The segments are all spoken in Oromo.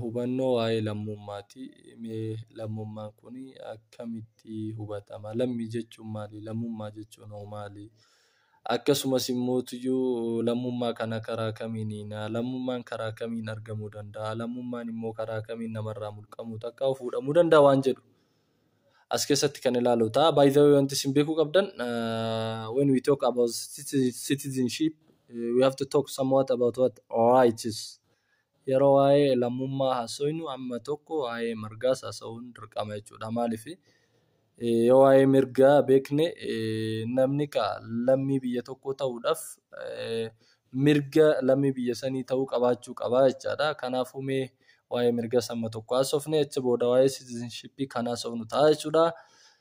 Hubannoo waa'ee lammummaati. Mee lammummaan kun akkamitti hubatama? Lammii jechuun maali? Lammummaa jechuun hoo maali? Akkasumas immoo iyyuu lammummaa kana karaa kamiin hiina? Lammummaan karaa kamiin argamuu danda'a? Lammummaan immoo karaa kamiin namarraa mulqamuu takkaa fuudhamuu danda'a waan jedhu as keessatti kan ilaalu ta'a. By the way wanti isin beekuu qabdan when we talk about citizenship we have to talk somewhat about what rights Yeroo waa'ee lammummaa haasofnu amma tokko waa'ee mirgaas haasa'uun dirqama jechuudha. Maaliif yoo waa'ee mirgaa beekne namni lammii biyya tokkoo ta'uudhaaf mirga lammii biyya sanii ta'uu qabaachuu qaba jechaadha. Kanaafuu mee waa'ee mirgaas amma tokko haasofne achi booda waa'ee citizenship kan haasofnu ta'a jechuudha.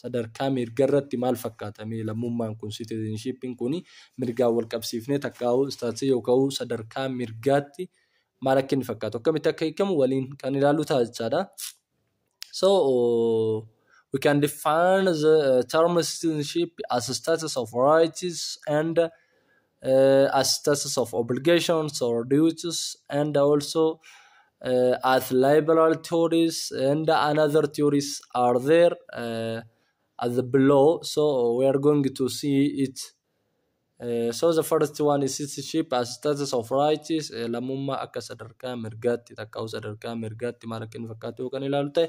sadarkaa mirgarratti maal fakkaata mee lammummaan kun citizenship'n kun mirgaan wal qabsiifnee takkaa'uu istaatisa yooka'uu sadarkaa mirgaatti maal akka inni fakkaatu akkamitti akka hiikamu waliin kan ilaallu ta'a jechaadha. So we can define the term citizenship as a status of rights and uh, as status of obligations or duties and also uh, as liberal theories and another theories are there uh, at the below so we are going to see it uh, so the first one is citizenship as status of rights uh, lammummaa akka sadarkaa mirgaatti takkaa'u sadarkaa mirgaatti maal akka inni fakkaatu yoo kan ilaalu ta'e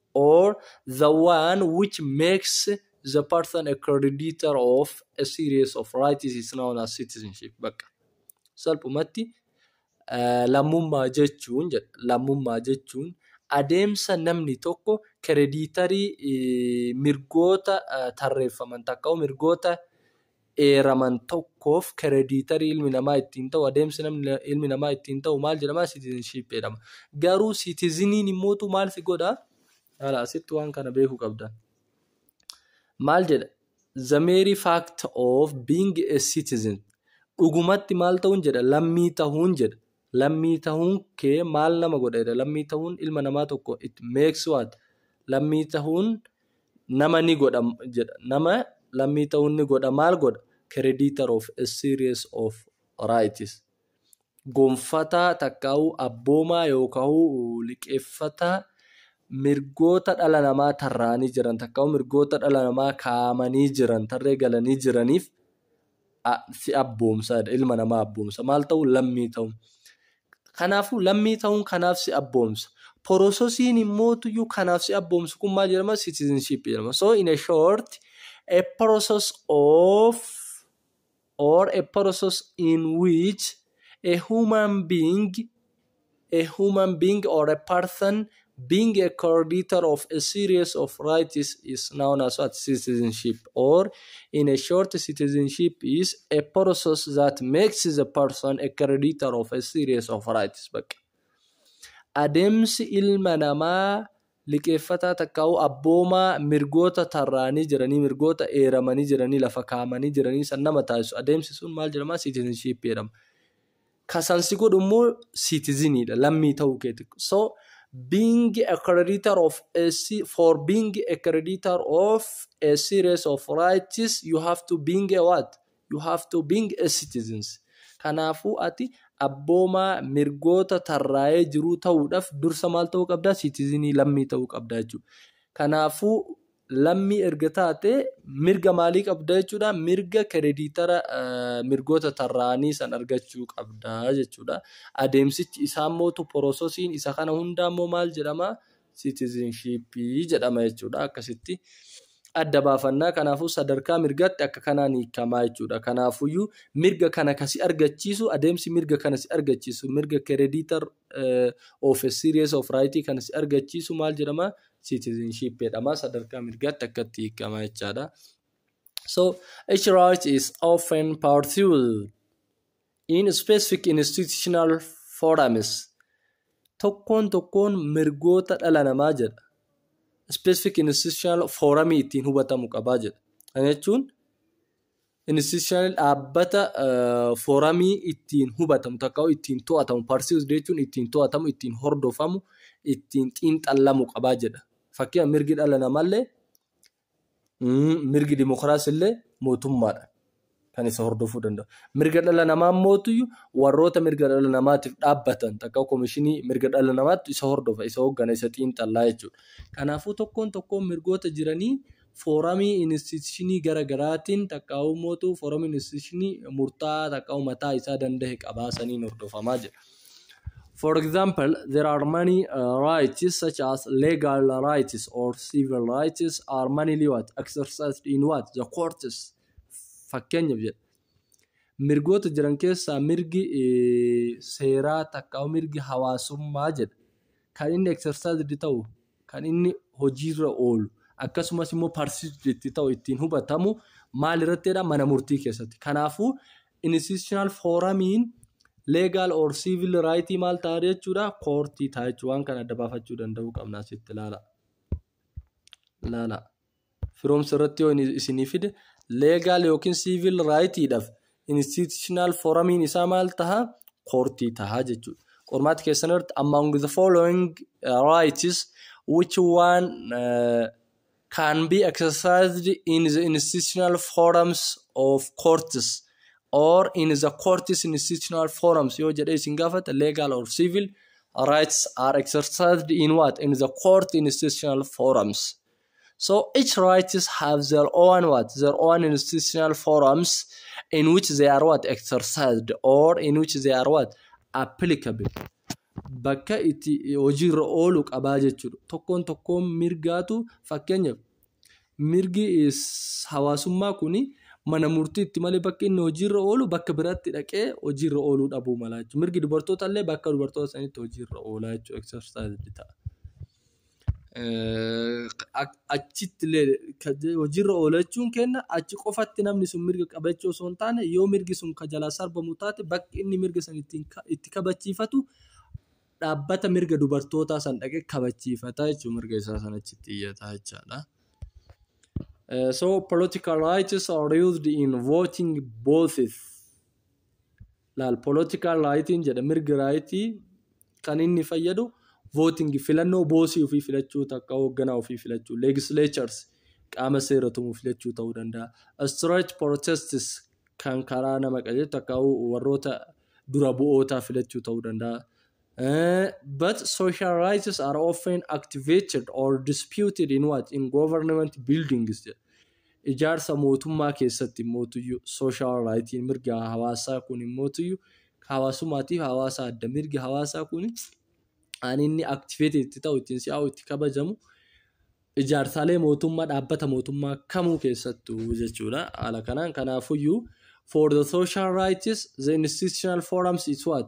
or the one which makes the person a creditor of a series of rights is known as citizenship bakka salphumatti eh, lammummaa jechuun jedha. lammummaa jechuun adeemsa namni tokko krediitarii eh, mirgoota eh, tarreeffaman takka mirgoota eeraman tokkoof kerediitarii ilmi namaa ittiin ta'u adeemsi namni ilmi namaa ittiin ta'u maal jedhama citizenship jedhama garuu citizeniin immootu maal si godha ala asitti waan kana beekuu qabdan maal jedha the mere fact of being a citizen dhugumatti maal ta'uun jedha lammii ta'uun jedha Lammii tahuun kee maal nama godha jedha lammii tahuun ilma namaa tokko it makes what lammii tahuun nama ni godha jedha nama lammii tahuun ni godha maal godha creditor of a series of rights gonfataa takkaa'uu abboomaa yookaa'uu liqeeffataa mirgoota dhala namaa tarraa'anii jiran takkaa'uu mirgoota dhala namaa kaa'amanii jiran tarree galanii jiraniif si abboomsa jedha. Ilma namaa abboomsa. Maal ta'uu? Lammii ta'uun. Kanaafuu lammii ta'uun kanaaf si abboomsa. Porososiin immoo tuyyuu kanaaf si abboomsu kun maal jedhama? Citizenship jedhama. So in a short, a process of or a process in which a human being A human being or a person being a creditor of a series of rights is known as what citizenship or in a short citizenship is a process that makes the person a creditor of a series of rights bakka adeemsi ilma namaa liqeeffataa takkaa'u abboomaa mirgoota tarraanii jiranii mirgoota eeramanii jiranii lafa kaa'amanii jiranii san nama taasisu adeemsi sun maal jedhama citizenship jedhama Ka san si godhu immoo citizen dha, lammii ta'uu keeti. So being a creditor of a se- for being a creditor of a series of rights you have to being a what? You have to being a citizens. Kanaafuu ati abboomaa mirgoota tarraa'ee jiruu ta'uudhaaf dursa maal ta'uu qabdaa? Citizenii lammii ta'uu qabdaa jechuudha. Kanaafuu lammii erga taate mirga maalii qabda jechuudha mirga kerediitara mirgoota tarraa'anii san argachuu qabda jechuudha adeemsichi isaa immoo tu porososiin isa kana hundaa immoo maal jedhama siitizinshiippii jedhama jechuudha akkasitti adda baafannaa kanaafuu sadarkaa mirgaatti akka kanaan hiikamaa jechuudha kanaafuyyuu mirga kana kasi argachiisu adeemsi mirga kana si argachiisu mirga kerediitar of a series of right kan si argachiisu maal jedhama citizenship jedhama sadarkaa mirgaatti akkatti hiikama jechaadha. So each right is often pursued in specific institutional forums. Tokkoon tokkoon mirgoota dhala namaa jedha. Specific institutional forum ittiin hubatamu qabaa jedha. Kana jechuun Institutionally dhaabbata fooramii ittiin hubatamu takka ittiin to'atamu parsius jechuun ittiin to'atamu ittiin hordofamu ittiin xiinxallamu qabaa jedha. Fakkeenya mirgi dhala namaallee mirgi dimokiraasii illee mootummaadha kan isa hordofuu danda'u. Mirga dhala namaa mootuyu warroota mirga dhala namaatiif dhaabbatan takka komishinii mirga dhala namaatti isa hordofa isa hooggana isa xiinxallaa jechuudha. Kanaafuu tokkoon tokkoon mirgoota jiranii Fooramii inistitishinii gara garaatiin takkaawu mootu fooramii inistitishinii murtaa'aa takkaawu mataa isaa dandahe qabaa saniin hordofamaa jedha. For example, there are many uh, rights such as legal rights or civil rights are mainly what exercised in what the courts fakkeenyaaf jedha. Mirgoota jiran keessaa mirgi seeraa takkaawu mirgi hawaasummaa jedha. kan inni exercised ta'u, kan inni hojiirra oolu, akkasumas immoo perceived itti ta'u ittiin hubatamu maal irrattidha mana murtii keessatti. Kanaafuu institutional foramiin legal or civil right maal ta'a jechuudha koortii ta'a jechuudha waan kana adda baafachuu danda'uu qabna asitti ilaala. Ilaala. firoomsa irratti yoo isinii fide leegaal yookiin siivil raayitiidhaaf institutional foramiin isaa maal taha koortii taha jechuudha. Qormaata keessan irratti among the following uh, rights which one uh, can be exercised in the institutional forums of courts or in the courts institutional forums yoo jedhee isin gaafata legal or civil rights are exercised in what in the court institutional forums So each rights have their own what? Their own institutional forums in which they are what? Exercised or in which they are what? Applicable. Bakka itti hojiirra oolu qabaa jechuudha. Tokkoon tokkoon mirgaatu fakkeenyaaf mirgi hawaasummaa kuni mana murtiitti malee bakka inni hojiirra oolu bakka biratti dhaqee hojiirra ooluu dhabuu malaa jechuudha. Mirgi dubartoota illee bakka dubartoota sanitti hojiirra oolaa jechuudha. Exercised ta'a. achitti illee hojiirra oola jechuun kenna achi qofatti namni sun mirga qaba jechuu osoo hin taane yoo mirgi sun ka jalaa sarbamu taate bakki inni mirga san itti kabachiifatu dhaabbata mirga dubartootaa san dhaqee kabachiifata jechuun mirga isaa san achitti iyyata jechaadha. Uh, so political rights are used in voting both. laal political rightiin jedha mirgi raayitii kan inni fayyadu voting filannoo boosii ofii filachuu takka hoogganaa ofii filachuu legislatures qaama seera tumuu filachuu ta'uu danda'a stretch protests kan karaa nama qajeelchu takka warroota dura bu'ootaa filachuu ta'uu danda'a Uh, but social rights are often activated or disputed in what in government buildings jedha. Ijaarsa mootummaa keessatti immootuyyuu social rightiin mirga hawaasaa kun immootuyyuu hawaasummaatiif hawaasa adda mirga hawaasaa kun ani inni activated itti ta'u ittiin si'aa'u itti kabajamu ijaarsaalee mootummaa dhaabbata mootummaa kamuu keessattuu jechuudha haala kanaan kanaafuyyuu for the social rights the institutional forums is what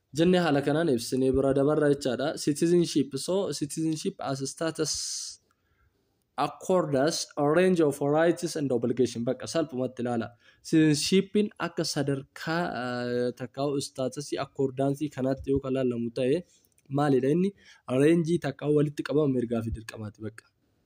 jenne haala kanaan ibsinee bira dabarra jechaadha. Citizenship so citizenship as status accords a range of rights and obligation bakka salphumatti ilaala. Citizenshipin akka sadarkaa eh, takkaa'u istaatasii akkordaansii kanaatti yoo kan laalamu ta'e maalidha inni reenjii takkaa'u walitti qabama mirgaa fi dirqamaati bakka.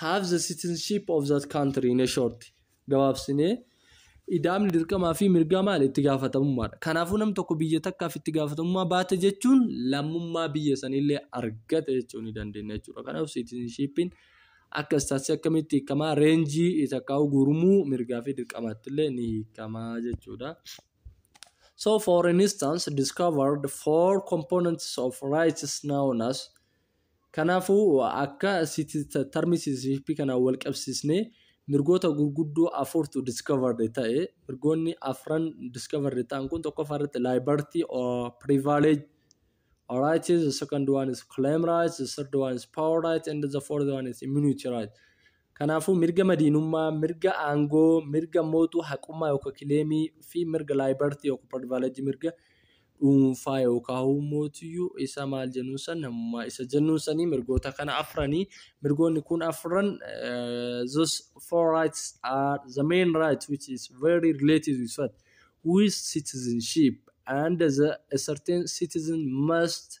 have the citizenship of that country in a short gabaabsinee idaamni dirqamaa fi mirgaa maal itti gaafatamummaadha kanaafuu nam tokko biyya takkaaf itti gaafatamummaa baate jechuun lammummaa biyya sanillee argate jechuu ni dandeenya jechuudha kanaaf citizenshipin akka istaasii akkamitti hiikamaa reenjii takkaa'u gurmuu mirgaa fi dirqamaattillee ni hiikamaa jechuudha. So for instance, discovered four components of rights known as Kanaafuu, akka city termsisp kanaan wal qabsiisnee mirgoota gurguddoo afurtu discovered ta'e. Mirgoonni afran discovered ta'an kun tokkoffaa irratti liberty or privilege rights, the second one is claim rights, the third one is power rights, and the fourth one is immunity rights. Kanaafuu mirga madiinummaa, mirga aangoo, mirga mootuu haqummaa yookaan kileemii fi mirga laayibartii yookaan pardivaaleejii mirga dhuunfaa yookaan huumootiyyuu isa maal jennuun san namummaa isa jennuun sanii mirgoota kana afranii mirgoonni kun afran eh, those four rights are the main rights which is very related with what with citizenship and the a certain citizen must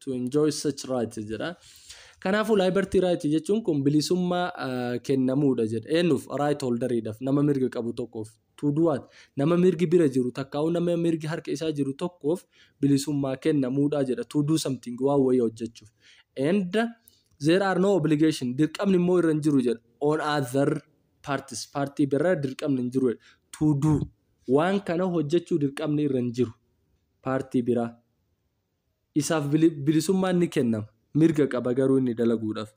to enjoy such rights jedha. Kanaafuu liberty right jechuun kun bilisummaa ah, kennamuudha jedha. Eenyuuf right holderiidhaaf nama mirga qabu tokkoof. To do what? Nama mirgi bira jiru takkaa'u nama mirgi harka isaa jiru tokkoof bilisummaa kennamuudha jedha. To do something waan wayii hojjechuuf. And there are no obligation dirqamni immoo irra hin jiru jedha. On other parties paartii biraa dirqamni hin jiru jedha. To do waan kana hojjechuu dirqamni irra hin jiru paartii biraa. Isaaf bilisummaan ni kennama. Mirga qaba garuu inni dalaguudhaaf.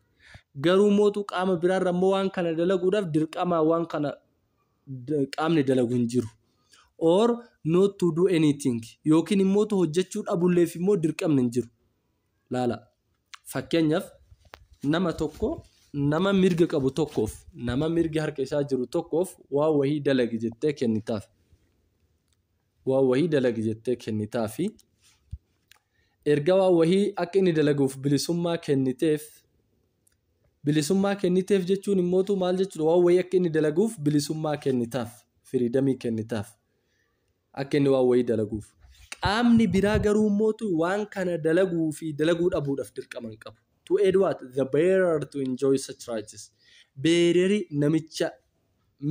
Garuu mootu qaama biraarra immoo waan kana dalaguudhaaf dirqamaa waan kana qaamni dalagu hin jiru. Or not to do anything yookiin immoo hojjechuu dhabulleef immoo dirqamni hin jiru. Laala. Fakkeenyaaf nama tokko nama mirga qabu tokkoof nama mirgi harka isaa jiru tokkoof waa wahii dalagi jettee kennitaaf. waan wahii dalagi jettee kennitaafi. Erga waan wahii akka inni dalaguuf bilisummaa kenniteef bilisummaa kenniteef jechuun immootu maal jechuudha waan wahii akka inni dalaguuf bilisummaa kennitaaf firiidamii kennitaaf akka inni waan wahii dalaguuf qaamni biraa garuu immootu waan kana dalaguu fi dalaguu dhabuudhaaf dirqama hin qabu to aid what the bearer to enjoy such rights beereri namicha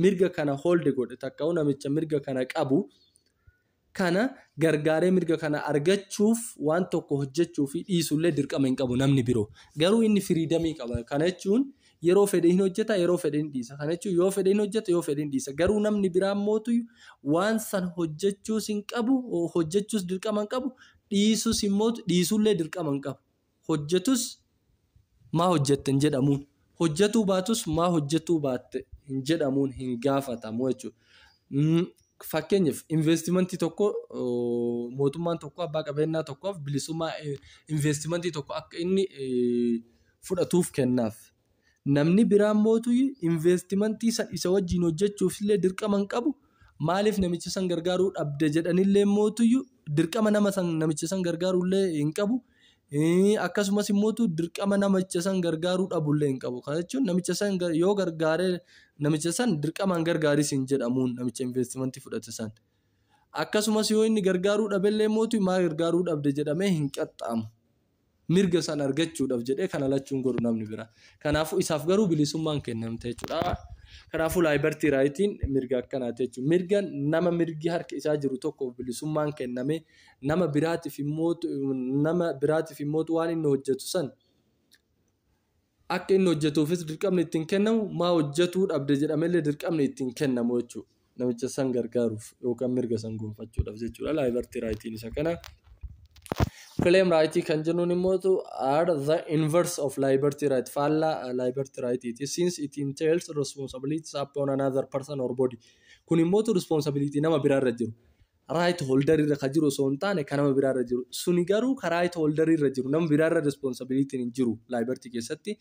mirga kana hold godhe takka'u namicha mirga kana qabu kana gargaaree mirga kana argachuuf waan tokko hojjechuu fi dhiisullee dirqama hin qabu namni biroo garuu inni firiidamii qaba kana jechuun yeroo fedhe hin hojjeta yeroo fedhe hin dhiisa kana jechuun yoo fedhe hin hojjeta yoo fedhe hin dhiisa garuu namni biraa mootu waan san hojjechuus hin qabu hojjechuus dirqama hin qabu dhiisus immoo dhiisullee dirqama hin qabu. hojjetus maa hojjette hin jedhamuun hojjetuu baatus maa hojjetuu baatte hin jedhamuun hin gaafatamu jechuudha. Mm, Fakkeenyaaf investimentii tokko oo, mootummaan tokko abbaa qabeenyaa tokkoof bilisummaa eh, investimentii tokko akka inni eh, fudhatuuf kennaaf. Namni biraammotu investmentii san isa wajjiin hojjachuufillee dirqama hin qabu, maaliif namicha san gargaaruu dhabda jedhanilleemmootu dirqama nama san namicha san gargaaruullee hin qabu, akkasumas immootu dirqama namicha san gargaaruu dhabullee hin qabu. Kana jechuun namicha san yoo gargaare namicha san dirqamaan gargaaris hin jedhamuun namicha investmentii fudhate san. Akkasumas yoo inni gargaaruu dhabellee immootu maa gargaaruu dhabde jedhamee hin qaxxaamu. mirga san argachuudhaaf jedhee kana lachuun godhu namni bira. Kanaafuu isaaf garuu bilisummaan kennamte jechuudha. Kanaafuu laayibartii raayitiin mirga akkanaati jechuudha. Mirga nama mirgi harka isaa jiru tokkoof bilisummaan kenname nama biraatiif immoo nama biraatiif immoo waan inni hojjetu san akka inni hojjetuufis dirqamni ittiin kennamu maa hojjetuu dhabde jedhamellee dirqamni ittiin kennamu jechuudha. Namicha san gargaaruuf yookaan mirga san gonfachuudhaaf jechuudha. Laayibartii raayitiin isa kana. Claim raayitii kan jennuun immoo are the inverse of liberty right faallaa liberty right iti since it entails responsibilities upon another person or body. Kun immoo responsibility nama biraarra jiru. raayit hooldarii irra kan jiru osoo hin taane kan nama biraa irra jiru. Suni garuu kan raayit hooldarii irra jiru nama biraa irra responsibilitiin hin jiru laayibartii keessatti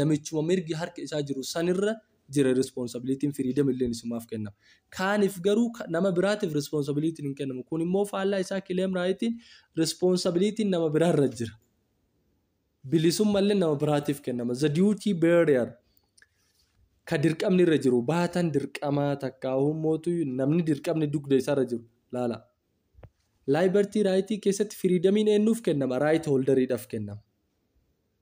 namichuma mirgi harka isaa jiru sanirra jira responsibilitiin firiidam illeen isumaaf kennama. Kaaniif garuu nama biraatiif responsibilitiin hin kennamu. Kun immoo faallaa isaa kileem raayitiin responsibilitiin nama biraa irra jira. Bilisummallee nama biraatiif kennama. The duty bearer ka dirqamni irra jiru baatan dirqamaa takkaahuu mootu namni dirqamni dugda isaarra jiru laala. Liberty right keessatti firiidamiin eenyuuf kennama? Right holderiidhaaf kennama.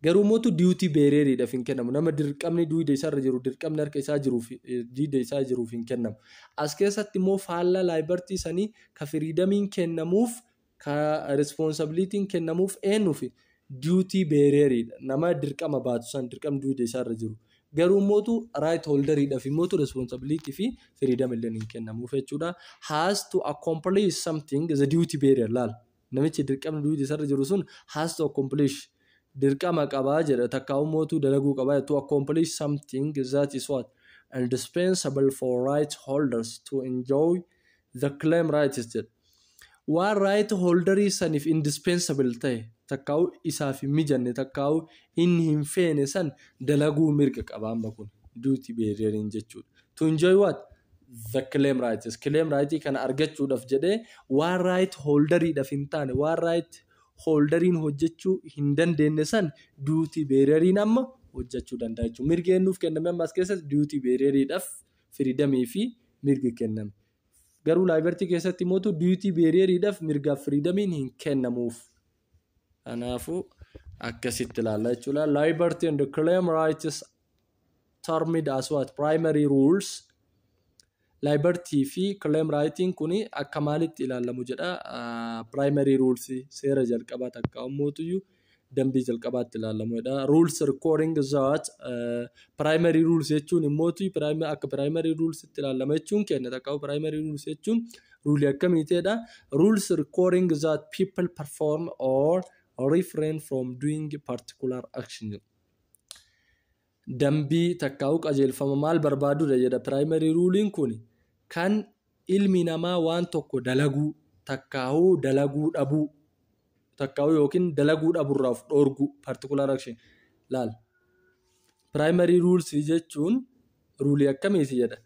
Garuu mootu duty beareriidhaaf hin kennamu. Nama dirqamni duuda isaarra jiru dirqamni harka isaa jiruuf eh, diida isaa jiruuf hin kennamu. As keessatti immoo faallaa liberty sanii ka firiidamiin kennamuuf ka responsibilitiin kennamuuf eennuuf duty bearer dha. Nama dirqama baatu san dirqam duude isaarra jiru. Garuu immootu right holder dhaaf immootu responsibility fi freedom illee hin kennamuuf jechuudha. Has to accomplish something the duty bearer laal. Namichi dirqamni duude isaarra jiru sun has to accomplish dirqama qaba jedha takka immootu dalaguu qaba to accomplish something that is what indispensable for right holders to enjoy the claim rights jedha. Waan right holderii saniif indispensable ta'e takkaa'u isaaf hin mijanne takkaa'u inni hin feene san dalaguu mirga qaba amma kun duty beareriin jechuudha. To enjoy what? The claim rights. Claim right kana argachuudhaaf jedhee waan right holderiidhaaf hin taane waan right holderiin hojjechuu hin dandeenye san duty beareriin amma hojjechuu danda'a jechuudha. Mirgi eenyuuf kenname amma as keessatti duty beareriidhaaf firiidamii fi mirgi kenname. Garuu laayibartii keessatti mootu duyutii beeriyeeriidhaaf mirgaaf firiidamiin hin kennamuuf. Kanaafuu akkasitti ilaalla jechuudha. Laayibartii and claim rights termed as what primary rules laayibartii fi claim rightiin kun akka maalitti ilaalamu jedha. Primary rules seera jalqabaa takka mootuyyuu dambii jalqabaatti ilaalamu jedha. Rules recording that uh, primary rules jechuun immooti akka primary rules itti ilaalama jechuun kenna takka primary rules jechuun ruulii akkamiiti jedha. Rules recording that people perform or refrain from doing particular action. Dambii takkaa'uu qajeelfama maal barbaadudha jedha primary rule'n kuni kan ilmi namaa waan tokko dalaguu takkaa'uu dalaguu dhabuu takkaa'uu yookiin dalaguu dhaburraa of dhoorguu particular action laal primary rules jechuun ruulii akkamiiti jedha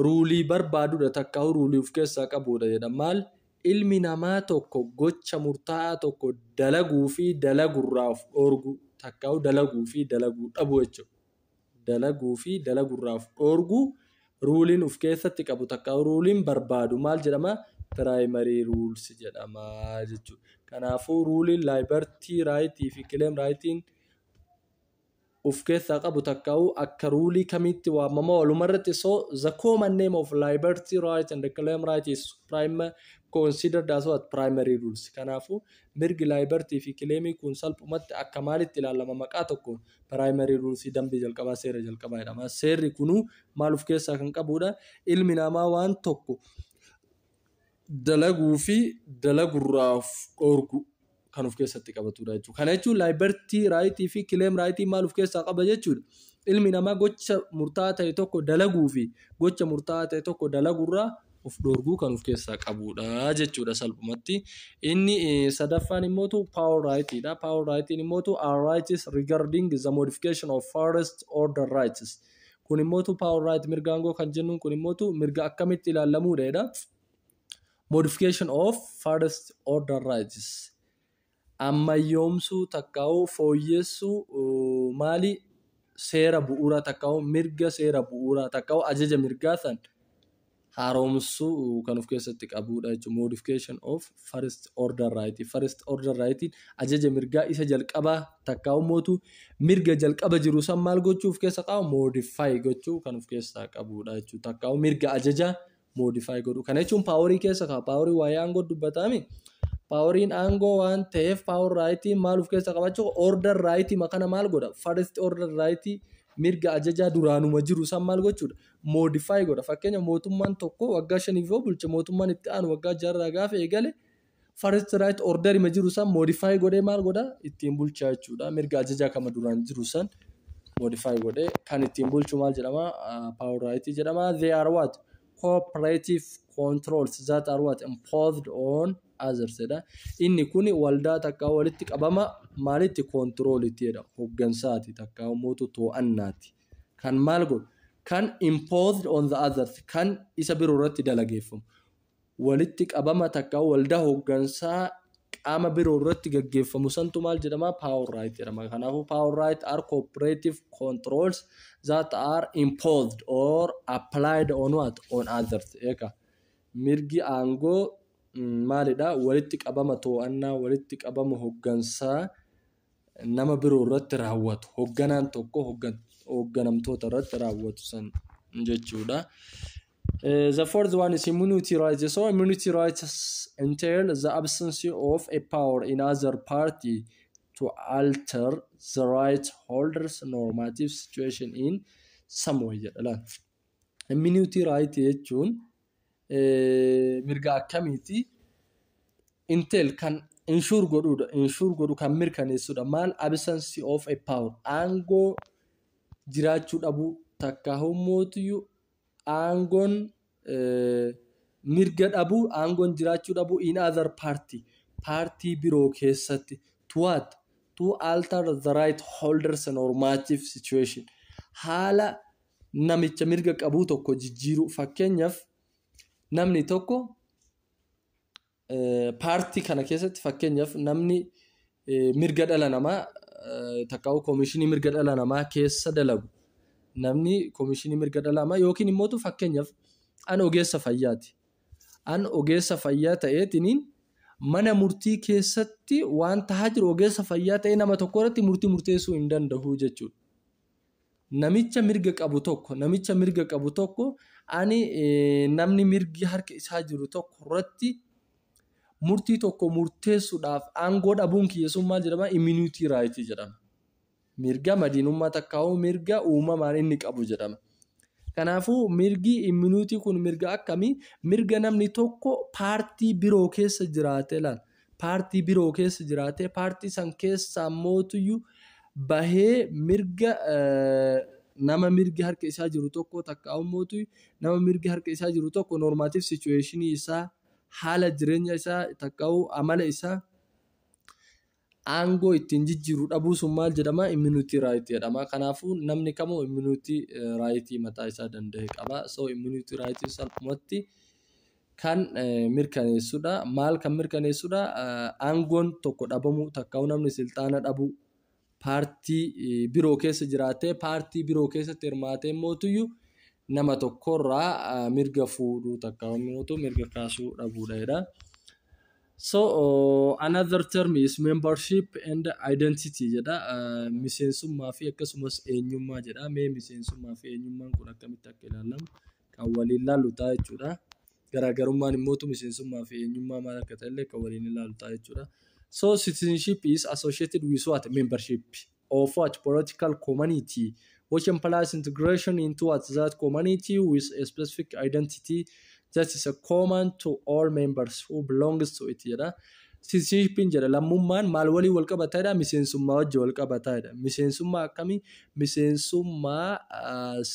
ruulii barbaadudha takkaa'uu ruulii of keessaa qabudha jedha maal Ilmi namaa tokko gocha murtaa'aa tokko dalaguu fi dalagu irraa of dhoorguu takkaa dalaguu fi dalaguu dhabuu jechuudha. Dalaguu fi dalagu irraa of dhoorguu ruuliin of keessatti qabu takkaa ruuliin barbaadu maal jedhama? Primary rules jedhama jechuudha. Kanaafuu ruuliin liberty right fi claim right of keessaa qabu takkaa'u akka ruulii kamiitti waamama walumarratti so the common name of liberty right and claim right is prime considered as what primary rules kanaafu mirgi liberty fi claimii kun salphumatti akka maalitti ilaalama maqaa tokkoon primary rules dambii jalqabaa seera jalqabaa jedhama seerri kunuu maal of keessaa kan qabuudha ilmi namaa waan tokko dalaguu fi dalagurraa of dhoorgu kan of keessatti qabatudha jechuudha. Kana jechuun laayibartii raayitii fi kileem raayitii maal of keessaa qaba jechuudha. Ilmi namaa gocha murtaa'aa ta'e tokko dalaguu fi gocha murtaa'aa ta'e tokko dalagurraa of dhoorguu kan of keessaa qabudha jechuudha salphumatti. Inni eh, sadaffaan immoo tu power rightidha. Power rightiin immoo tu our rights regarding the modification of first order rights. Kun immoo tu power right mirga aangoo kan jennuun kun immoo tu mirga akkamitti ilaallamuudha jedha. Modification of first order rights. Ammayyoomsuu takkaa'uu fooyyessuu uh, maali seera bu'uuraa takkaa'uu mirga seera bu'uuraa takkaa'uu ajaja mirgaa san haaromsuu kan of keessatti qabuudha jechuudha. Modification of first order right. First order right ajaja mirgaa isa jalqabaa takkaa ummootu mirga jalqaba jiru san maal gochuu of keessa qaba modify gochuu kan of keessaa qabuudha jechuudha. Takkaa mirga ajaja modify godhu. Kana jechuun paaworii keessa ka'a. Paaworii waa'ee aangoo dubbataami. Paaworiin aangoo waan ta'eef paawor raayitii maal of keessa qabachuu order raayitii makana maal godha first order raayitii mirga ajajaa duraanuma jiru san maal gochuudha modify godha. Fakkeenya mootummaan tokko waggaa shaniif yoo bulche mootummaan itti aanu waggaa jaarraa gaafa eegale first right order ma jiru san modify godhee maal godha ittiin bulchaa jechuudha. Mirga ajajaa kama duraan jiru san modify godhee kan ittiin bulchu maal jedhama power right jedhama. They are what cooperative controls that are what imposed on others jedha. Inni kun waldaa takkaa walitti qabama maalitti koontiroolitti jedhama. Hoggansaati takkaa uummatu too'annaati. kan maal godhu, kan imposed on the others, kan isa biro irratti dalageeffamu, walitti qabama takka waldaa hoggansaa qaama biro irratti gaggeeffamu santu maal jedhama? Power right jedhama. Kanaafuu power right are cooperative controls that are imposed or applied on what? On others. Eeka. Mirgi aangoo maalidha? Walitti qabama too'annaa, walitti qabama hoggansaa nama biroo irratti raawwatu hogganaan tokko hogganamtoota irratti raawwatu san jechuudha. Uh, the fourth one is immunity rights. So immunity rights entail the absence of a power in other party to alter the right holders normative situation in some way jedha. Immunity right jechuun mirga akkamiiti? Intel kan inshuur godhuudha. Inshuur godhu kan mirkaneessuudha. Maal absence of a power aangoo jiraachuu dhabuu takka hummootiyyu aangoon mirga dhabuu aangoon jiraachuu dhabuu in other party paartii biroo keessatti to what to alter the right holders normative situation haala namicha mirga qabuu tokko jijjiiruu fakkeenyaaf namni tokko paartii kana keessatti fakkeenyaaf namni mirga dhala namaa takkaa'u koomishinii mirga dhala namaa keessa dalagu namni koomishinii mirga dhala namaa yookiin immoo fakkeenyaaf an ogeessa fayyaati. An ogeessa fayyaa ta'eetiniin mana murtii keessatti waan tahaa jiru ogeessa fayyaa ta'ee nama tokko irratti murtii murteessuu hin danda'u jechuudha. Namicha mirga qabu tokko, namicha mirga qabu tokko ani namni mirgi harka isaa jiru tokko irratti murtii tokko murteessuudhaaf aangoo dhabuun kiyya sun maal jedhama? Immunity right jedhama. Mirga madiinummaa takkaa'uu mirga uumamaan inni qabu jedhama. Kanaafuu mirgi immunity kun mirga akkamii? Mirga namni tokko paartii biroo keessa jiraatee laal. paartii biroo keessa jiraatee paartii san keessaa mootuyyu bahee mirga nama mirgi harka isaa jiru tokko takka mootu nama mirgi harka isaa jiru tokko normative situation isaa haala jireenya isaa takka amala isaa aangoo ittiin jijjiiru dhabuu sun maal jedhama immunity right jedhama kanaafuu namni kamuu immunity right mataa isaa danda'e qaba so immunity right salphumatti kan mirkaneessudha. Maal kan mirkaneessudha? Aangoon tokko dhabamuu takkaa'uu namni silxaana dhabuu paartii biroo keessa jiraatee paartii biroo keessatti hirmaatee mootuyyuu nama tokkorraa mirga fuudhuu takkaa'uu mootu mirga kaasuu dhabuudha jedha. So uh, another term is membership and identity jedha. Uh, miseensummaa fi akkasumas eenyummaa jedha. Mee miseensummaa fi eenyummaan kun akkamitti akka ilaalamu kan waliin ilaallu ta'a jechuudha. Garaagarummaan immoo miseensummaa fi eenyummaa maal akka ta'e illee kan waliin ilaallu ta'a jechuudha. So citizenship is associated with what? Membership of what? Political community which implies integration into what? That community with a specific identity that is common to all members who belongs to it jedha. Sitizenshippiin jedha lammummaan maal waliin wal qabata jedha miseensummaa wajji wal qabata jedha miseensummaa akkamii miseensummaa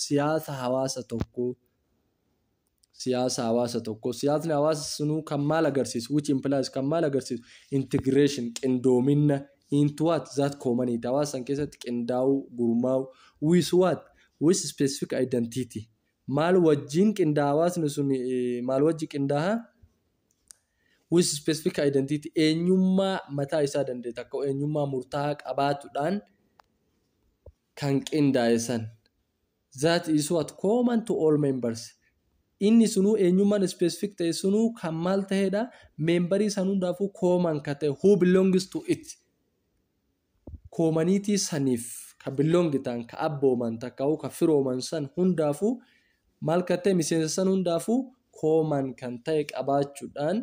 siyaasa hawaasa tokko siyaasa hawaasa tokko siyaasni hawaasa sunuu kan maal agarsiisu which implies kan maal agarsiisu integration qindoominna into what that community hawaasa san keessatti qindaa'uu gurmaa'uu with what with specific identity maal wajjiin qindaa hawaasni sun maal wajji qindaaha with specific identity eenyummaa mataa isaa danda'e takka eenyummaa murtaa'aa qabaatudhaan kan qindaa'e san that is what common to all members inni sunuu eenyummaan specific ta'e sunuu kan maal ta'edha meembarii san hundaafuu common ka ta'e who belongs to it koomaniitii saniif ka belong ta'an, ka abbooman takkaahuu ka firooman san hundaafuu maal kan ta'e miseensa san hundaafuu kooman kan ta'e qabaachuudhaan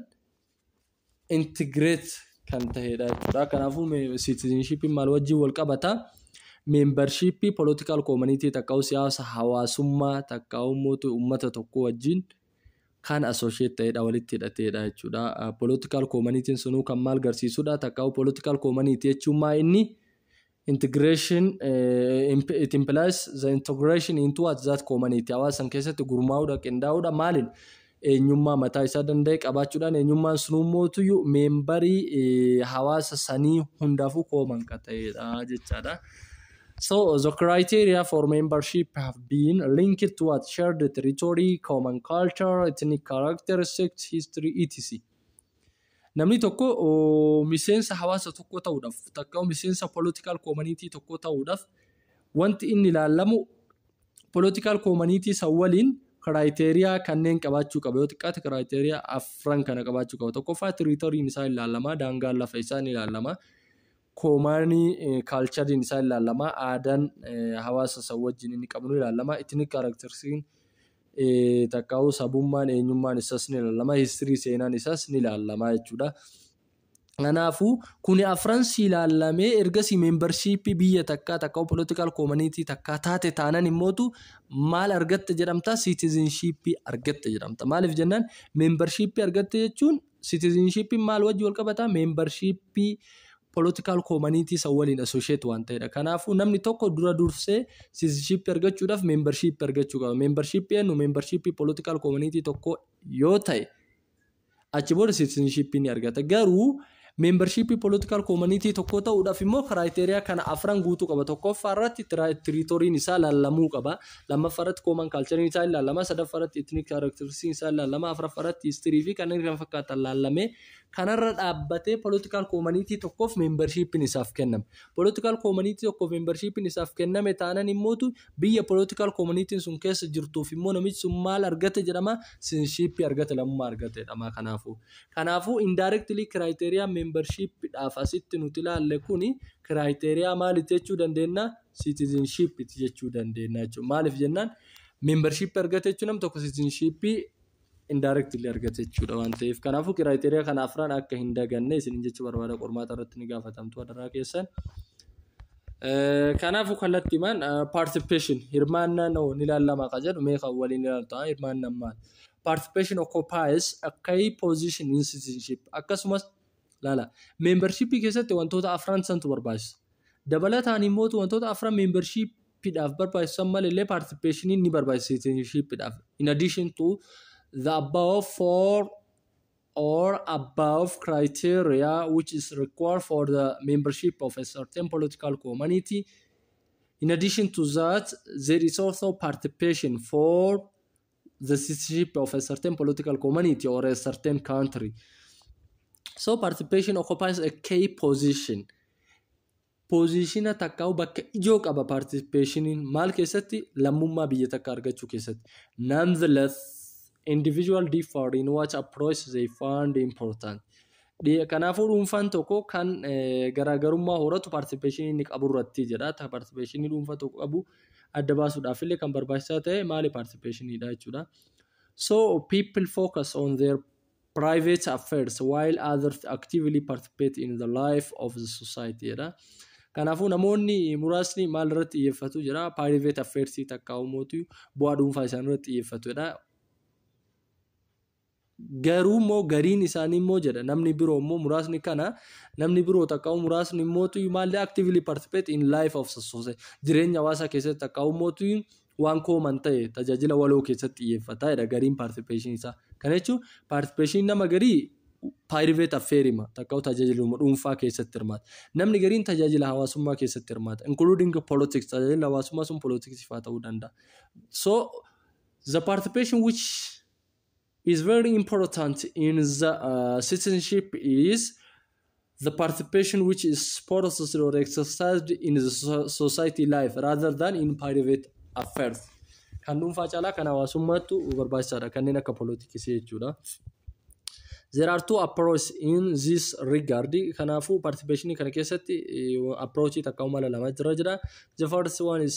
integrate kan ta'edha jechuudha. Kanaafuu citizenshippiin maal wajjin wal qabata? Membership political community takkaahuu siyaasa hawaasummaa takkaahuu mootu uummata tokko wajjin kaan associate ta'edha walitti hidhateedha jechuudha. Political community'n sunuu kan maal garsiisudha? Takkaa'u political community jechuun maa inni integration it implies the integration into what that community hawaasa san keessatti gurmaa'uudha qindaa'uudha maaliin eenyummaa mataa isaa danda'e qabaachuudhaan eenyummaan sunuu mootuyyuu meembarii hawaasa sanii hundaafuu kooman ka ta'edha jechaadha. So the criteria for membership have been linked to what shared territory, common culture, ethnic characteristics, history, etc. Namni tokko oh, miseensa hawaasa tokko ta'uudhaaf takka miseensa political community tokko ta'uudhaaf wanti inni ilaalamu political community san waliin criteria kanneen qabaachuu qaba yoo xiqqaate criteria afran kana qabaachuu qaba tokkoffaa territoriin isaa ilaalama daangaan lafa isaa ni ilaalama Koomaanii kaalchariin isaa ni ilaalama. Aadaan hawaasa san wajjin inni qabu ni ilaalama. Ethnic characteristics takkaa'uu sabummaan eenyummaan isaas ni ilaalama. History seenaan isaas ni ilaalama jechuudha. Kanaafuu kuni afran si ilaalamee ergasii membershiippii biyya takkaa takkaa political community takkaa taate taanan immootu maal argatte jedhamta citizenship argatte jedhamta. Maaliif jennaan membershiippii argatte jechuun Citizenshippiin maal wajji wal qabata? Membershippii political community isa waliin associate waan ta'edha. Kanaafuu namni tokko dura dursee citizenship argachuudhaaf membership argachuu qaba. Membership eenyu membership political community tokko yoo ta'e achi booda citizenship ni argata. Garuu membership political community tokko ta'uudhaaf immoo criteria kana afran guutuu qaba. Tokkoffaa irratti tiriitoriin isaa laallamuu qaba. lammaffaa irratti kooman kaalchariin isaa ilaalama sadaffaa irratti etnik kaaraktaristiksiin isaa ilaalama afraffaa irratti histirii fi kanneen kana fakkaatan ilaalame kanarra dhaabbatee poolitikaal koomaniitii tokkoof meembarshiippiin isaaf kenname poolitikaal koomaniitii tokkoof meembarshiippiin isaaf kenname taanan immootu biyya poolitikaal koomaniitiin sun keessa jirtuuf immoo namichi sun maal argate jedhama sinshiippii argate lammummaa argate jedhama kanaafuu kanaafuu indaayirektilii kiraayiteriyaa meembarshiippiidhaaf asitti nuti ilaalle kuni kiraayiteriyaa maalitti jechuu dandeenya citizenship itti jechuu dandeenya jechuudha. Maaliif jennaan membership argate jechuun nam tokko citizenship indirectly argate jechuudha waan ta'eef. Kanaafuu kiraayiteriyaa kana afran akka hin daganne isin jechuu barbaada qormaata irratti ni gaafatamtu adaraa keessan. Kanaafuu kallattiimaan participation hirmaannaa noo ni ilaallama kan jedhu mee kan waliin ilaaltu ta'a hirmaannaan maal? Participation occupies a key position in citizenship akkasumas Laala. Meembarshiippii keessatti wantoota afran santu barbaachisa. Dabalataan immoo wantoota afran meembarshiippiidhaaf barbaachisan malee paartisipeeshiniin ni barbaachisa siitiishiippiidhaaf. In addition to the above four or above criteria which is required for the membership of a certain political community, in addition to that, there is also participation for the citizenship of a certain political community or a certain country. So participation occupies a key position. Poozishina takkaa bakka ijoo qaba participationiin maal keessatti lammummaa biyya takka argachuu keessatti. Nonetheless, individual differ in what approach they find important. Kanaafuu dhuunfaan tokko kan garaagarummaa horatu participation inni qabu irratti jedha. Participation dhuunfaa tokko qabu adda baasuudhaaf illee kan barbaachisaa ta'e maali participation dha jechuudha. So people focus on their private affairs while others actively participate in the life of the society jedha. Kanaafuu namoonni muraasni maal irratti xiyyeeffatu jedha private affairs takka uumootu bu'aa dhuunfaa isaanii irratti xiyyeeffatu jedha. Garuu immoo gariin isaanii immoo jedha namni biroo immoo muraasni kana namni biroo takka'u muraasni immootu maallee actively participate in life of society jireenya hawaasaa keessatti takka'u immootu waan kooman ta'e tajaajila waloo keessatti xiyyeeffata jedha gariin participation isaa. Kana jechuun participation nama garii private affair hima takka'u tajaajiluma dhuunfaa keessatti hirmaata. Namni gariin tajaajila hawaasummaa keessatti hirmaata including politics tajaajila hawaasummaa sun politics faa ta'uu danda'a. So the participation which is very important in the uh, citizenship is the participation which is processed or exercised in the so- society life rather than in private affairs. Kan dhuunfaa caalaa kan hawaasummaattu barbaachisaadha kanneen akka polotiksii jechuudha. There are two approaches in this regard. Kanaafuu participation kana keessatti eh, approach takka mala lama jira jira. The first one is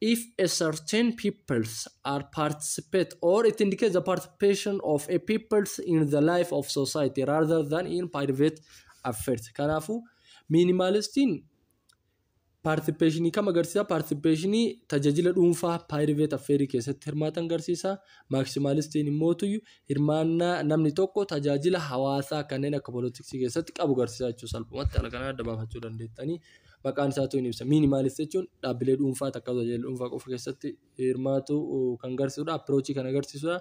If a certain peoples are participate or it indicates the participation of a peoples in the life of society rather than in private affairs. Kanaafuu miinimaalistiin paartisipeeshinii kam agarsiisa? Paartisipeeshinii tajaajila dhuunfaa private affairs keessatti hirmaatan agarsiisa. Maaksimaalistiin immoo tuyyu hirmaannaa namni tokko tajaajila hawaasaa kanneen akka poolitiksii keessatti qabu agarsiisa jechuudha. Salphumatti haala kanaan adda baafachuu dandeettanii. maqaan isaatu hin ibsa. Miinimaalist jechuun dhaabbilee dhuunfaa takka tajaajila dhuunfaa qofa keessatti hirmaatu kan garsiisudha. Appirochii kan agarsiisudha.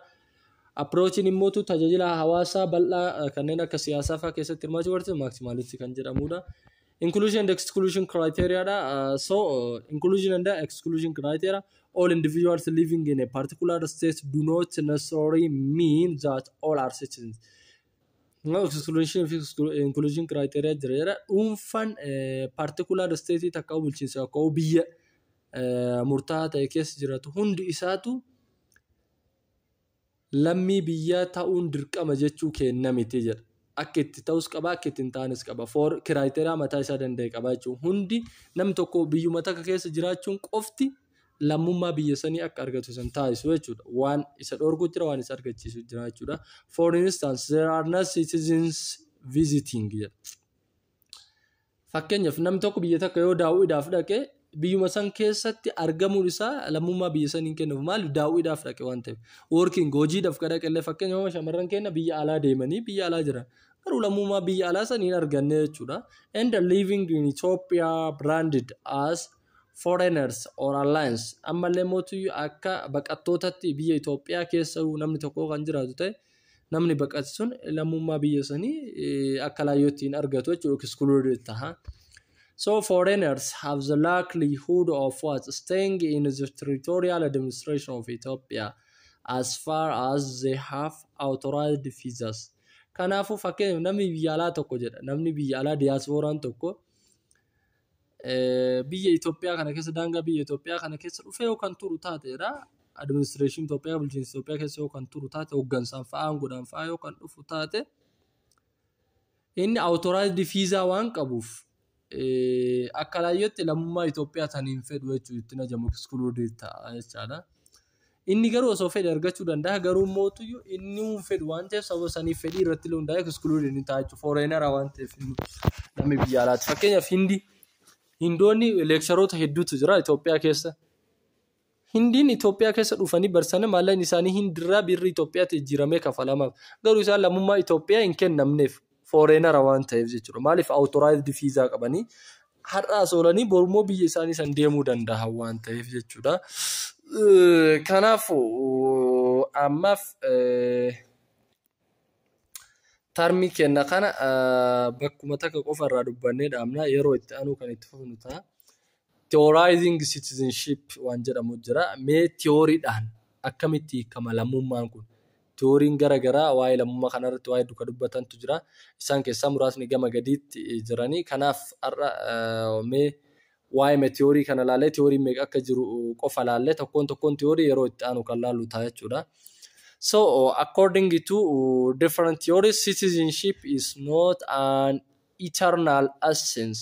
Appirochiin immoo tajaajila hawaasaa bal'aa kanneen akka siyaasaa fa'aa keessatti hirmaachuu agarsiisu maaksimaalistii kan jedhamudha. Inclusion and exclusion criteria dha. Uh, so uh, inclusion and exclusion criteria all individuals living in a particular state do not necessarily mean that all are citizens. Exclusion fi inclusion criteria jira jedha. Dhuunfaan particular state takka bulchiinsa akka biyya murtaa'aa ta'e keessa jiraatu hundi isaatu lammii biyyaa ta'uun dirqama jechuu keenna miti jedha. Akka itti ta'us qaba, akka itti hin taanes qaba. For criteria mataa isaa danda'e qaba jechuudha. Hundi nam tokko biyyuma takka keessa jiraachuun qofti lammummaa biyya sanii akka argatu san taasisu jechuudha. Waan isa dhorku jira, waan isa argachiisu jira jechuudha. For instance, there are no citizens visiting jedha. Fakkeenyaaf namni tokko biyya takka yoo daawwiidhaaf dhaqe biyyuma san keessatti argamuun isaa lammummaa biyya saniin kennuuf maali daawwiidhaaf dhaqe waan ta'eef. Working hojiidhaaf ka dhaqe illee fakkeenyaaf shamarran keenya biyya alaa deemanii biyya alaa jiran. Garuu lammummaa biyya alaa san hin arganne jechuudha. And living in Ethiopia branded as foreigners or alliance ammallee mootii akka baqattootatti biyya Itoophiyaa keessa namni tokko kan jiraatu ta'e namni baqate sun lammummaa biyya sanii akka laayyootti hin argatu jechuudha excluded taha. So foreigners have the likelihood of what staying in the territorial administration of Ethiopia as far as they have authorized visas. Kanaafuu fakkeenyaaf namni biyya alaa tokko jedha namni biyya alaa diyaaspooraan tokko biyya Itoophiyaa kana keessa daangaa biyya Itoophiyaa kana keessa dhufee yoo kan turu taateedha. Administireeshinii Itoophiyaa bulchiinsa Itoophiyaa keessa yoo kan turu taate hooggansaan fa'aa aangoodhaan fa'aa yoo kan dhufu taate inni awutoraayizdi fiizaa waan qabuuf akka laayyootti lammummaa Itoophiyaa tan hin fedhu jechuun ittiin ajamu ekskuluudii ta'a jechaadha. Inni garuu osoo fedhe argachuu danda'a garuu immoo tuyyu inni hin fedhu waan ta'eef sababa saniif fedhii irratti illee hundaa'e exclude inni ta'a jechuudha fooreenara waan ta'eef namni biyya alaati fakkeenyaaf hindi hindoonni leeksharoota hedduutu jira Itoophiyaa keessa hindiin Itoophiyaa keessa dhufanii barsan maallaqni isaanii hindirraa birri Itoophiyaatti jijjiiramee kafalamaaf garuu isaan lammummaa Itoophiyaa hin kennamneef fooreenara waan ta'eef jechuudha. Maaliif awutoraayizdii fiizaa qabanii har'aas oolanii borummoo biyya isaanii san deemuu danda'an waan ta'eef jechuudha. Kanaafuu ammaaf tarmii kenna kana bakkuma takka qofa irraa dubbannee dhaabna yeroo itti aanuu kan itti fufnu ta'a. Theorizing citizenship waan jedhamu jira. Mee tiyooriidhaan akkamitti hiikama lammummaan kun? Tiyooriin gara garaa waa'ee lammummaa kanarratti waa'ee duka dubbatantu jira. Isaan keessaa muraasni gama gadiitti jirani. Kanaaf har'a mee waa'ee tiyoorii kana laalee tiyooriin meeqa akka jiru qofa laalle tokkoon tokkoon tiyoorii yeroo itti aanu kan laallu ta'a jechuudha. So, according to different theories, citizenship is not an eternal essence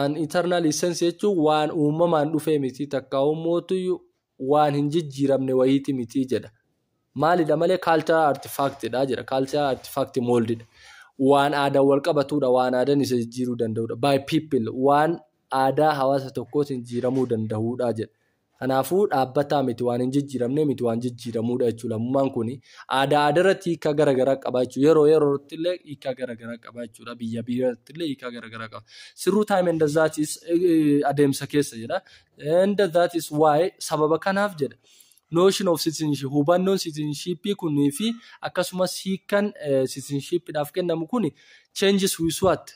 An eternal essence jechuun waan uumamaan dhufee miti takkaa'ummoottu waan hin jijjiiramne wayiiti miti jedha. Maalidha malee cultural artifact dha jedha. Cultural artifact mold dha. Waan aadaan wal qabatudha. Waan aadaan isa jijjiiruu danda'udha. By people waan aadaa hawaasa tokkootiin jijjiiramuu danda'udha jedha. Kanaafuu, dhaabbataa miti, waan hin jijjiiramnee miti, waan jijjiiramuu dha jechuu lammummaan kuni. Aadaa aadaa irratti hiikkaa gara garaa qaba jechuu. Yeroo yeroo irratti illee hiikkaa gara garaa qaba jechuu dha. Biyya biyya irratti illee hiikkaa gara garaa qaba. Through time and that is adeemsa keessa jedha. And that is why sababa kanaaf jedha. Notion of citizenship hubannoon citizenship kunii fi akkasumas hiikkan citizenship dhaaf kennamu kuni changes with what?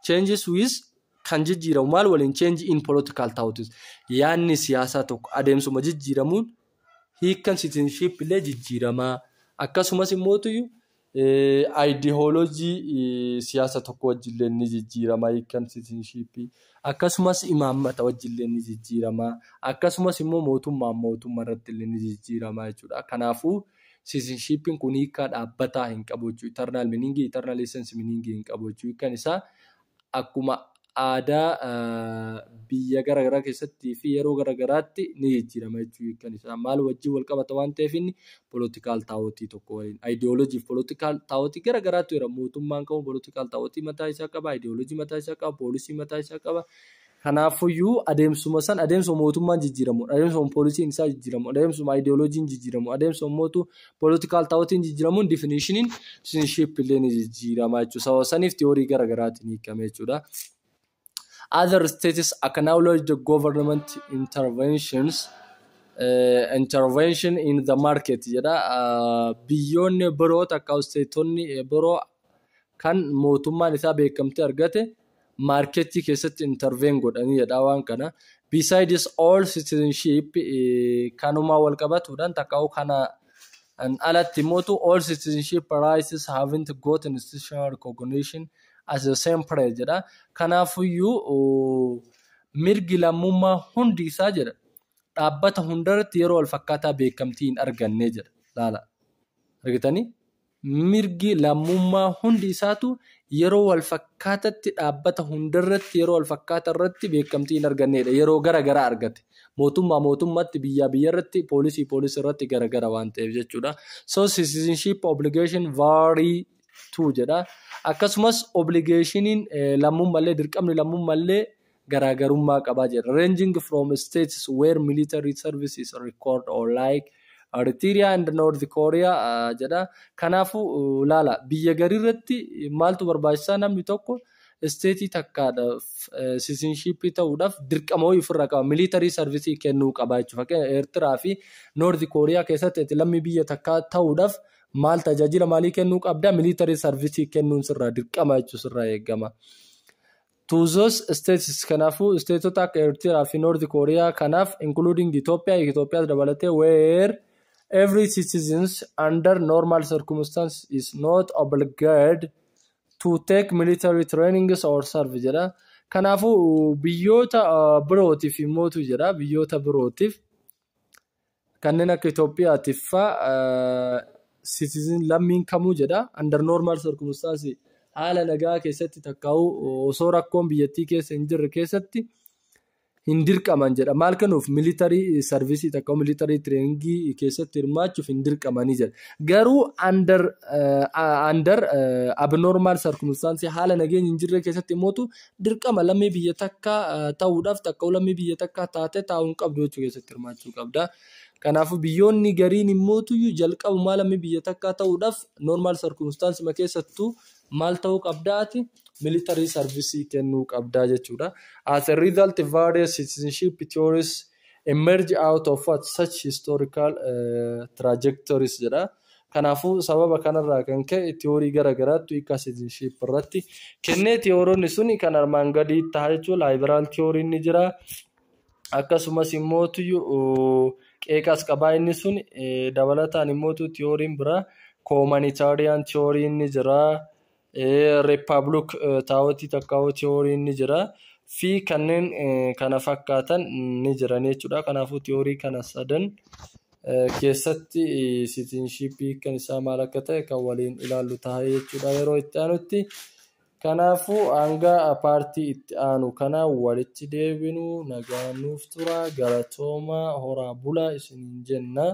changes with kan jijjiiramu maal waliin change in political thoughts yaanni siyaasaa tokko adeemsuma jijjiiramuun hiikkan citizenship illee jijjiiramaa akkasumas immoo tuyyu ideology siyaasa tokko wajjillee ni jijjiiramaa hiikkan citizenship akkasumas imaammata wajjillee ni jijjiiramaa akkasumas immoo mootummaan mootummaa irratti illee ni jijjiiramaa jechuudha kanaafuu Siitizenshippiin kun hiikkaa dhaabbataa hin qabu jechuu eternal meaning, eternal essence meaning hin qabu jechuu hiikkan isaa akkuma aadaa biyya gara garaa keessatti fi yeroo gara garaatti ni jijjiirama jechuu hiikkan isaa maal wajjin wal qabata waan ta'eef inni political taawotii tokko waliin ideology fi political taawotii gara garaatu jira mootummaan kamuu political taawotii mataa isaa qaba ideology mataa isaa qaba poolisii mataa isaa qaba Kanaaffuyyuu adeemsuma san adeemsuma mootummaan jijjiiramuun, adeemsuma poolisiin isaa jijjiiramuun, adeemsuma ideologiin jijjiiramuun, adeemsuma mootu political thoughtiin jijjiiramuun definitionin citizenship illee ni jijjiirama jechuudha. Sababa saniif theory gara garaatiin hiikame jechuudha. Other states acknowledge the government interventions uh, intervention in the market jedha. Uh, biyyoonni biroo takka isteetonni biroo kan mootummaan isaa beekamtii argate maarkeetii keessatti interveen godhanii jedhaa waan kana. Besides all citizenship eh, kanumaa wal qabatuudhaan takkaa'u kana an alatti mootu all citizenship rights haven't got institutional recognition as the same place jedha. Kanaafuyyuu oh, mirgi lammummaa hundi isaa jedha dhaabbata hundarratti yeroo wal fakkaataa beekamtii hin arganne jedha. Laala. Argitanii? mirgi lammummaa hundi isaatu yeroo walfakkaatatti dhaabbata hundarratti yeroo walfakkaata irratti beekamtii hin arganneedha. Yeroo gara gara argate. Mootummaa mootummatti, biyyaa biyyarratti, poolisii poolisii irratti gara gara waan ta'eef jechuudha. So citizenship obligation vary to jedha. Akkasumas obligationin lammummallee dirqamni lammummallee garaagarummaa qaba jedha. Ranging from states where military service is record or like Eritrea and North Korea uh, jedha. Kanaafuu uh, laala biyya garirratti maaltu barbaachisaa namni tokko isteetii takkaadhaaf sisinshiippii ta'uudhaaf dirqama wayii ofirraa qaba. Militarii sarvisii kennuu qaba jechuudha. Fakkeenya Eertiraa fi Noordi Kooriyaa keessatti ati lammii biyya takkaa ta'uudhaaf maal tajaajila maalii kennuu qabda? Militarii sarvisii kennuun sirraa dirqama jechuun sirraa eegama. To those states kanaafuu isteetota akka Eertiraa fi North Korea kanaaf including Ethiopia Itoophiyaas dabalatee where every citizens under normal circumstances is not obliged to take military trainings or serve jedha. Kanaafuu biyyoota birootiif immootu jedha biyyoota birootiif Kanneen akka Itoophiyaatiif faa citizen lammiin kamuu jedha under normal circumstances haala nagaa keessatti takkaa'uu osoo rakkoon biyyattii keessa hin jirre keessatti hin dirqaman jedha. Maal kennuuf militarii sarvisii takka militarii tireeningii keessatti hirmaachuuf hin dirqamanii jedha. Garuu under under abnormal circumstances haala nageenyi hin jirre keessatti immoo dirqama lammii biyya takkaa ta'uudhaaf takka'u lammii biyya takkaa taate taa'uu hin qabdu jechuu keessatti hirmaachuu qabda. Kanaafuu biyyoonni gariin immoo tuyyu jalqabumaa lammii biyya takkaa ta'uudhaaf normaal sarkumstaansima keessattuu maal ta'uu qabdaati militarii sarvisii kennuu qabdaa jechuudha. As a result various citizenship theories emerge out of what such historical uh, trajectories jedha. Kanaafuu, sababa kanarraa kan ka'e tiyoorii gara garaattu hiika sitizinship irratti kennee tiyooronni suni kan armaan gadii ta'a jechuudha. Laayiberaal tiyooriin ni jira. Akkasumas immoo qeeqas qabaa inni sun dabalataan immoo tiyooriin biraa koomanitaariyaan tiyooriin ni jira. Reeppaabuluk taa'otii takkaawuu tiyooriin ni jira. Fi kanneen kana fakkaatan ni jiran jechuudha. Kanaafuu tiyoorii kana sadan keessatti sitiinshiippii kan isaa maal akka ta'e kan waliin ilaallu ta'a jechuudha yeroo itti aanutti. Kanaafuu hanga paartii itti aanu kana walitti deebinu nagaa nuuf tura galatoomaa horaa bulaa isiniin jenna.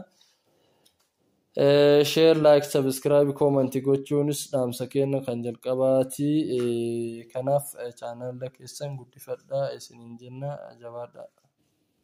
Share, like, subscribe, comment gochuunis dhaamsa keenya kan jalqabaati. Kanaaf channel keessan guddifadhaa isiniin jenna jabaadhaa.